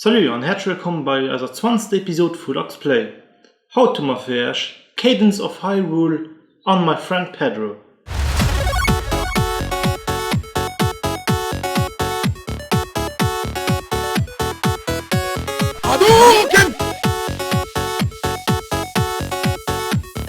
Salut an häerzlech wëllkomm bei eiser zwanzter Episode vu Lux Play. Haut hu mer fir iech Cadence of Hyrule an My Friend Pedro.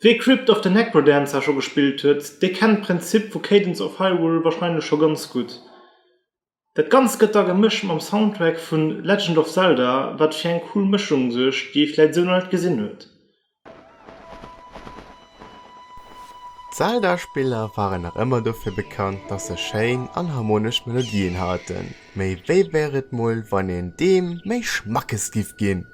Wee Crypt of the Necrodancer scho gespillt huet, dee kennt d'Prinzip vu Cadence of Hyrule warscheinlech scho ganz gutt. Dat Ganzt gëtt da gemëscht mam Soundtrack vu Legend of Zelda, wat fir eng cool Mëschung suergt, déi ee vläit esou nach net gesinn huet. D'Zelda-Spiller waren nach ëmmer dofir bekannt, dass se schéin an harmonesch Melodien haten, mee wéi wär et mol, wann een deem méi Schmackes giff ginn?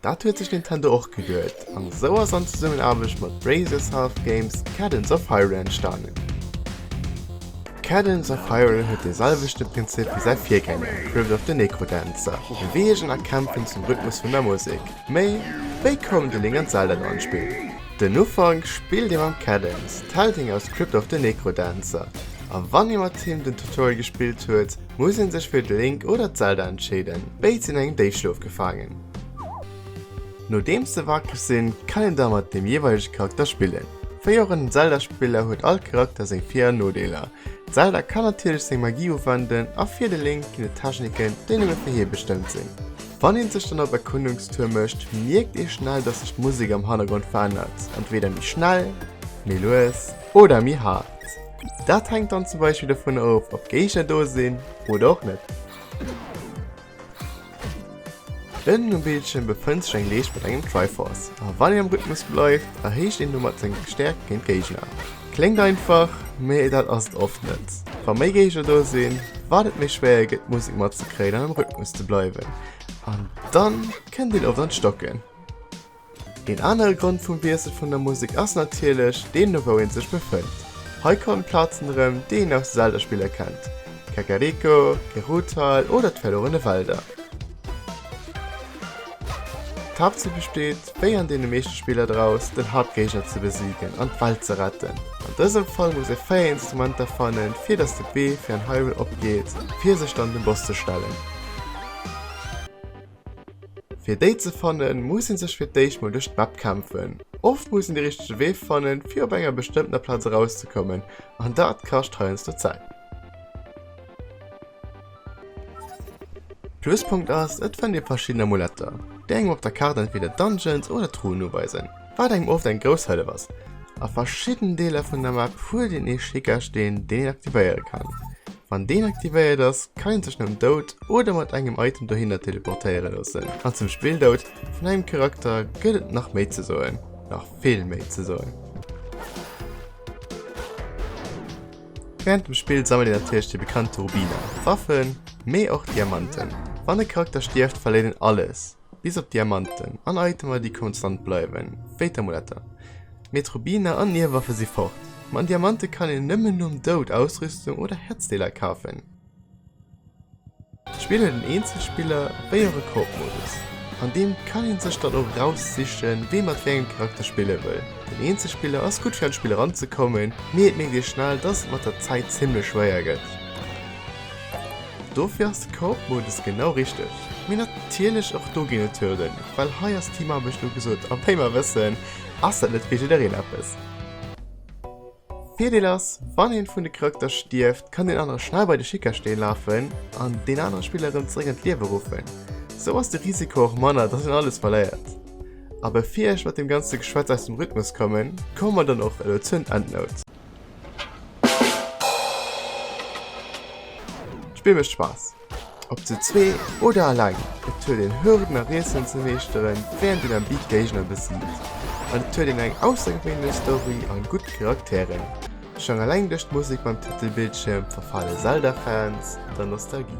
Dat huet sech Nintendo och geduet, an esou ass an Zesummenaarbecht mat Bracersoft Games Cadence of Hyrule entstanen. Cadence of Hyrule huet dee selwechte Prinzip wéi säi Virgänger Crypt of the Necrodancer, Beweegen a Kämpfen zum Rhythmus vun der Musek. Mee, wéi koum The Legend of Zelda elo an d'Spill? Den Ufank spillt ee mam Cadence, d'Heldin aus Crypt of the Necrodancer. A wann ee mat him den Tutorial gespillt huet, muss een sech fir d'Link oder d'Zelda entscheeden. Béid sinn an engem Déifschlof gefaangen. Nodeems se wakreg sinn, kann een da mat deem jeeweilege Charakter spillen. Wéi och an den Zelda-Spiller huet all Charakter seng Vir an Nodeeler. D'Zelda kann natierlech seng Magie uwenden a fir de Link ginn et Techniken, déi nëmme fir hie bestëmmt sinn. Wann een sech dann op Erkundungstour mécht, mierkt ee schnell, dass sech d'Musek am Hannergrond verännert, entweeder méi schnell, méi lues oder méi haart. Dat hänkt dann zum Beispill dovun of, ob Géigner do sinn oder och net. Ënnen um Bildschirm befënnt sech eng Leescht mat engem Triforce, a wann een am Rhythmus bleift, erhéicht een domat seng Stäerkt géint Géigner. Kléngt einfach, mee dat ass et oft net. Wa méi Géigner do sinn, wat et méi schwéier gëtt d'Musek matzekréien an am Rhythmus ze bleiwen, an da kënnt een oft an d'Stocken. Een anere Grond vum Wiessel vun der Musek ass natierlech deen no wou een sech befënnt. Hei kommen Plazen erëm, déi een aus de Zelda-Spiller kennt, Kakariko, Geruuthal oder d'Verluerene Wälder. D'Haaptzil besteet, wéi an deene meeschte Spiller draus, den Haaptgéigner ze besigen an d'Welt ze retten. An dësem Fall muss ee 4 Instrumenter fannen, fir dass de Bee fir en Hyrule opgeet, fir sech dann dem Boss ze stellen. Fir déi ze fannen, muss een sech fir d'éischt mol duerch d'Map kämpfen. Oft muss een de richtege Wee fannen, fir op enger bestëmmtener Plaz erauszekommen, an dat kascht heiansdo Zäit. Pluspunkt ass, et fënnt ee verschidden Amuletter, déi engem op der Kaart entweder Dungeons oder Truhen uweisen. Wat engem oft eng grouss Hëllef ass. A verschidden Deeler vun der Map huet een ee Schickersteen deen een aktivéiere kann. Wann deen aktivéiert ass kann een sech nom Doud oder mat engem Item dohinner teleportéiere loossen. An zum Spilldoud vun engem Charakter gëtt et nach méi ze soen, nach vill méi ze soen. Während dem Spill sammelt een natierlech déi bekannte Rubiner, Waffen, mee och Diamanten. Wann e Charakter stierft verléiert een alles. Bis op Diamanten an Itemer déi konstant bleiwen, wéi d'Amuletter. Mee d'Rubiner an Nierwaffe si fort. Mat Diamante kann een nëmmen nom Doud Ausrüstung oder Häerzdeeler kafen. D'Spill huet en Eenzelspiller wéi och e Koop-Modus. An deem kann een sech dann och raussichen, wee mat wéi engem Charakter spille wëll. Den Eenzelspiller ass gutt fir an d'Spill eranzekommen, mee et mierkt ee schnell, dass et mat der Zäit zimmlech schwéier gëtt. Dofir ass de Coop-Modus genau richteg. Mee natierlech och do ginn et Hürden, well hei ass Teamarbecht ugesot a wéi mer wëssen, ass dat net fir jiddereen eppes. Virdeel ass, wann een vun de Charakter stierft, kann deen anere schnell bei de Schickersteen lafen an deen anere Spiller erëm zeréck an d'Liewe ruffen. Sou ass de Risiko och manner, dass een alles verléiert. A bevir ech mat deem ganze Geschwätz aus dem Rhythmus kommen, komme mer dann och elo zur Endnote. D'Spill mécht Spaass, ob zu zwee oder eleng. Et huet een Hürden a Rätselen ze meeschteren, wärend een am Beat d'Géigner besiegt. An et huet een eng aussergewéinlech Story an gutt Charakteren. Schonn eleng duerch d'Musek beim Titelbildschierm verfale Zelda-Fans der Nostalgie.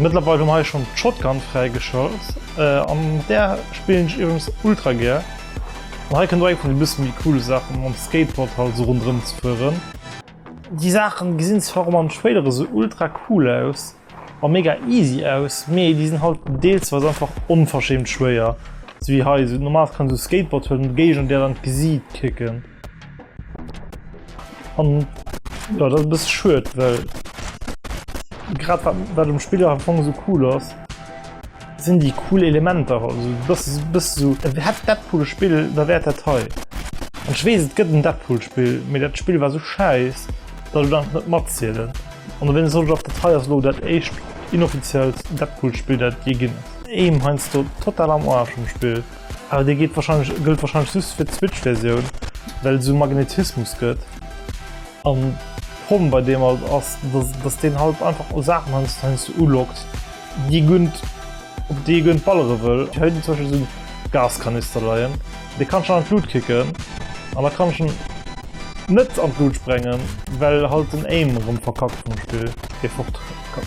Mëttlerweil hun hei schon d'Shotgun fräi geschalt an mat där spillen ech iwwrems ultra gär. An hei kënnt och eng vun de bësse méi coole Saachen, mam Skateboard halt sou rondrëm ze fueren. Déi Saachen gesinn zwar och mam Trailer esou ultra cool aus a mega easy aus, mee déi sinn halt deelsweis einfach onverschämt schwéier, sou wéi hei. Normal kann een sou e Skateboard huelen an de Géigner där an d'Gesiit kicken. An ja, dat bis schuet well grad bei dem Spieler am Fong so cool ass sinn die cool Elementer also das bist so hat dat coole Spiel da wärt der teil An schwees gëtt den Deadpoolspill mé dat Spiel war so scheiß dat dann net matzielen an wenn soll op der Teil lo dat echt inoffiziell Deadpoolspiel dat je ginn Eem heinsst du total am Arsch um Spill. Awer dee geet wahrscheinlech gëllt wahrscheinlech just fir d'Switch Versioun well esou Magnetismus gëtt an d'Problem bei deem alt ass dass deen halt einfach o Saachen heiansdo heiansdo uloggt déi gudd op déi ee guer net ballere wëll. Ech hu hei zum Beispill esou Gaskanister leien dee kann ech an d'Lut kicken an da kann ech en net an d'Lut sprengen well halt den Aim erëm verkackt vum Spill dee fort kann.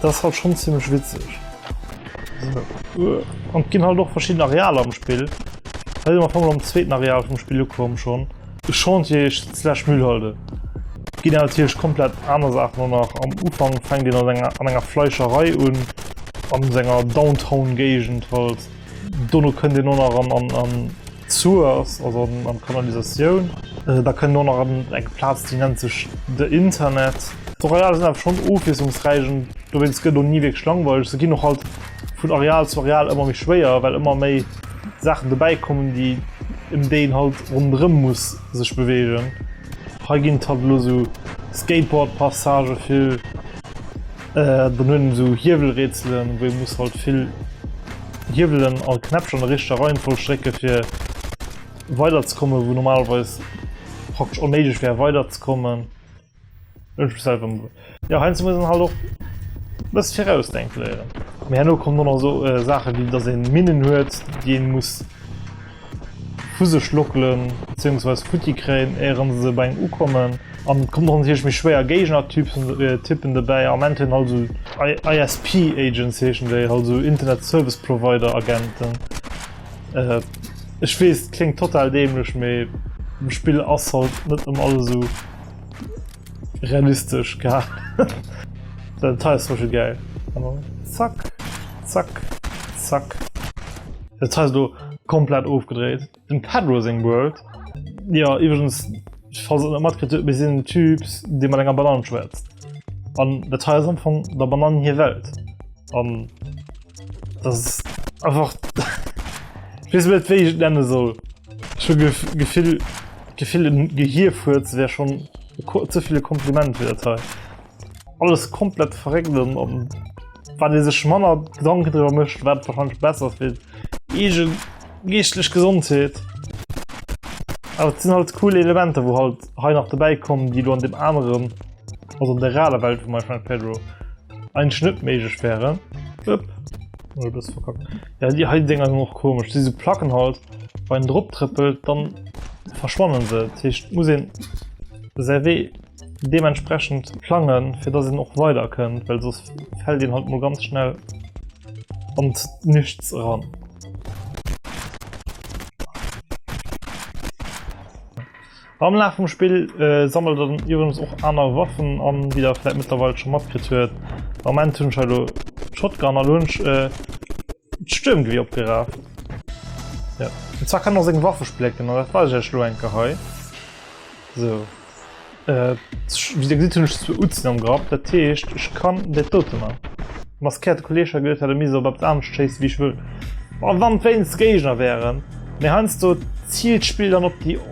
Dat ass halt schon ziemlech witzeg. An et ginn halt och verschidden Arealer am Spill. Hei si mer op eemol am zweeten Areal vum Spill ukomm schon. De Chantier slash Müllhalde ginn awer natierlech komplett aner Saachen an nach. Am Ufank fänkt een an enger, an enger Fleischerei un, an senger Downtown-Géigend halt. Dono kënnt een och nach an, an, an. D'Source ass also an d'Kanalisatioun. Da kënnt och nach eng Plaz, déi nennt sech de Internet. D'Arealer sinn awer schonn ofwiesslungsräich an dowéinst gëtt et och ni wierklech langweileg. Se ginn och halt vun Areal zu Areal ëmmer méi schwéier, well ëmmer méi Saachen dobäikommen, déi ëm déi een halt ronderëm muss sech beweegen. Hei ginn et halt elo esou Skateboard-Passagë vill. Dann hunn en sou Hiewelrätselen, wou ee muss halt vill Hiewelen a Knäppcher an der richteger Reihenfolg drécke fir weiderzekommen, wou normalerweis praktesch onméiglech wär weiderzekommen. Jo heiansdo muss een halt och e bësse virausdenke léieren. Mee herno kommen dann nach sou Saache wéi dass ee Minnen huet, déi ee muss. vu sech lockelen, bezéiungsweis futti kréien éieren se sou bei engem ukommen an et kommen och natierlech méi schwéier Géigner Typen Typen dobäi am Ent hunn halt esou ISP Agents heeschen déi halt esou Internet Service Provider Agenten ech weess kléngt total dämlech mee am Spill ass halt net ëmmer alles esou. Realistesch geha Den Teil ass schon geil. Zack, zack, zack. Dat Teil ass do komplett ofgedréit. Dem Pedro seng World, jo iwwregens falls der net matkritt hutt, mir sinn en Typ dee mat enger Banann schwätzt an dat hei ass am Fong der Banann hir Welt. An das einfach net wéi ich nenne soll schon gef gefill gefill den gehirfurz wär schon ze viele kompliment fir dat hei alles komplett verregnen an wann dir sech manner gedanke drüber mecht wat wahrscheinlich besser fir egent geestlech gesondheet aber sinn halt cool elemente wo halt hei nach dabei kommen die du an dem anderen also an der raler welt vu mein friend pedro Ein Schnitt méigeg wäre. Upp. Oh, das verkackt. Ja, die heiten Dinger sind auch komisch. Diese Placken halt, wenn man drauf trippelt, dann verschwannen sie. Das heißt, muss ihn sehr weh dementsprechend plangen, für dass ihn auch weiter könnt, weil sonst fällt ihn halt mal ganz schnell und nichts ran. Am Laf vum Spill sammelt en iwwregens och aner Waffen an, wéi der vläit mëttlerweil scho matkritt huet. Am Ament hunn ech hei elo d'Shotgun a lo hunn ech d'Stuermgewier opgeraaft. Jo, an zwar kann en och seng Waffe splécken an dat weise ech iech lo eng Kéier hei. Sou, wéi der gesitt hunn ech zwou Utzen am Grapp, dat heescht ech kann dat dote man. De maskéierte Kolleeg hat gesot, e misst op eppes anescht schéisse wéi ech wëll. A wann et wéinst Géigner wären. Mee heiansdo ziilt d'Spill dann op déi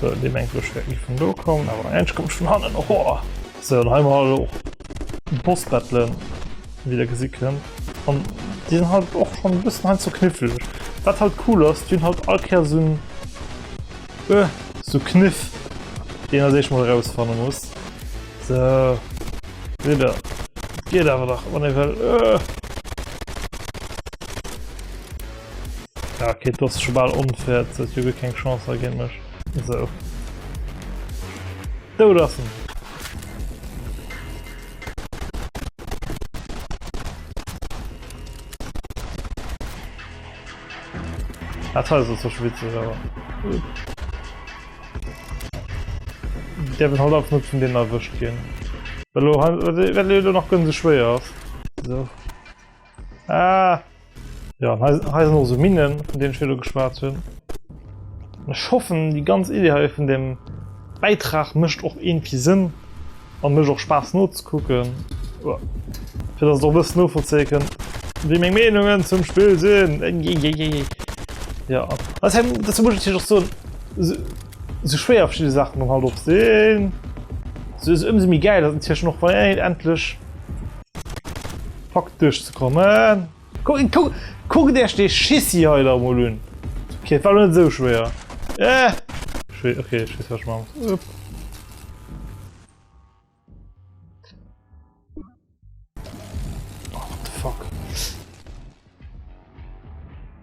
So, dee mengt ech wäert ni vun do kommen, awer eng kommt vun hannen, hohoa! So, an hei mar elo och Boss-Battlen, wéi der gesi kënnt. An déi sinn halt och schonn e bëssen hei ze kniffleg. Wat halt cool ass, déi hunn halt all Kéier esou en, ë, esou Kniff, déi een als éischt mol erausfanne muss. So, seet der, et geet awer nach, wann ee wëll, ë! Ja, okay, du hast schon ball unfair, das hat Jürgen keine Chance gegen mich. So. Du lassen. Das war so schwitzig, aber. Der wird halt auch nicht von denen erwischt gehen. Weil du, weil du noch ganz schwer hast. So. Ah. Ja, hei sinn also Minnen, vun deenen ech virdu geschwat hunn. Ech hoffen, déi ganz Idee hei vun dem Bäitrag mécht och iergendwéi Sënn a mécht och Spaass nozekucken, fir datt et och e bëssen novollzéie kënnt, wéi meng Meenungen zum Spill sinn. Eieieiei. Ja, ass hei, dozou muss ech natierlech och soen, esou, esou schwéier verschidde Saachen dann halt och sinn, esou ëmsou méi gäil ass et natierlech och, wann een endlech. Packt duerch ze kommen. Kuckt Iech dee Schissi hei da emol un. Ok, et war elo net esou schwéier. Eh! Ok, ech weess wat ech maache muss. Upp.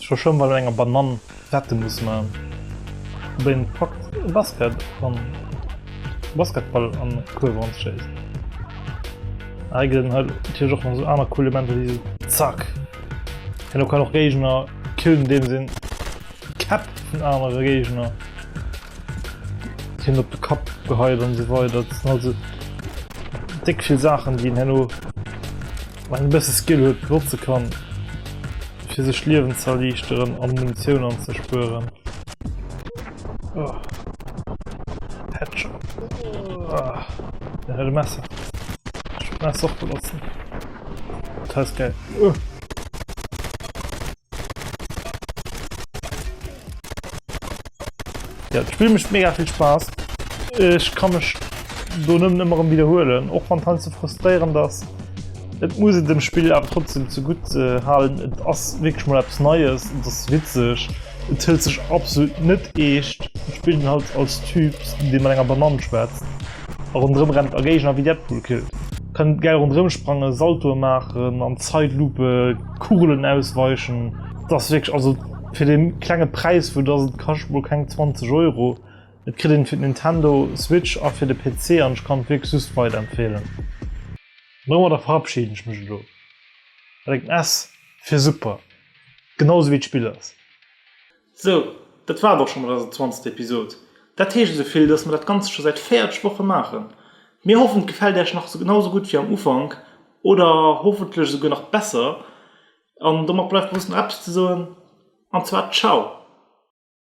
Scho schon mal enger Banann retten muss man den Fakt Basket an Basketball an Kurve an schéisst. Hei gëtt den Hall Tier joch man so aner cool Elemente wéi Zack. Hien lo kann och Géigner killen, deem sinn Käpp vun anere Géigner. Hien op de Kapp geheit an esou weider. Dat sinn also déck vill Saachen, déi een herno, wann een e bësse Skill huet, benotze kann, fir sech d'Liewen ze erliichteren an Munitioun anzespueren. Messer Messer och benotzen. Dat heist geil. Uh. Ja, das Spiel macht mega viel Spaß. Ich kann mich do nëmmen ëmmer wiederholen, och wann han ze frustréieren ass. Et muss et dem Spiel awer trotzdem zu gut äh, halen. Et ass wirklich mal etwas Neues, et ass witzig, et hëlt sech absolut net eescht. Et spielt den halt als Typ, de mat enger Banann schwätzt a rondrëm rennt a Géigner wie Deadpool killt. Kënnt geil rondrëm sprangen, Saltoe maachen, an Zeitlupe Kugelen ausweichen. Das wirklich also Fir de klenge Präis, vu dass et kascht mol keng 20 Euro, et kritt een fir d'Nintendo Switch a fir de PC an ech kann et wierklech just weider empfeelen. An domadder verabschieden ech mech elo mat engem S fir super, genau sou wéi d'Spill ass. Sou, dat war et och scho mat eiser 20. Episod. Dat heescht esou vill, dass mer dat Ganzt scho säit 40 Woche maachen. Mir hoffen et gefält Äech nach genau sou gutt wéi am Ufank oder hoffentlech esouguer nach besser. An domat bleift eis just nach eppes ze soen, an zwar Ciao!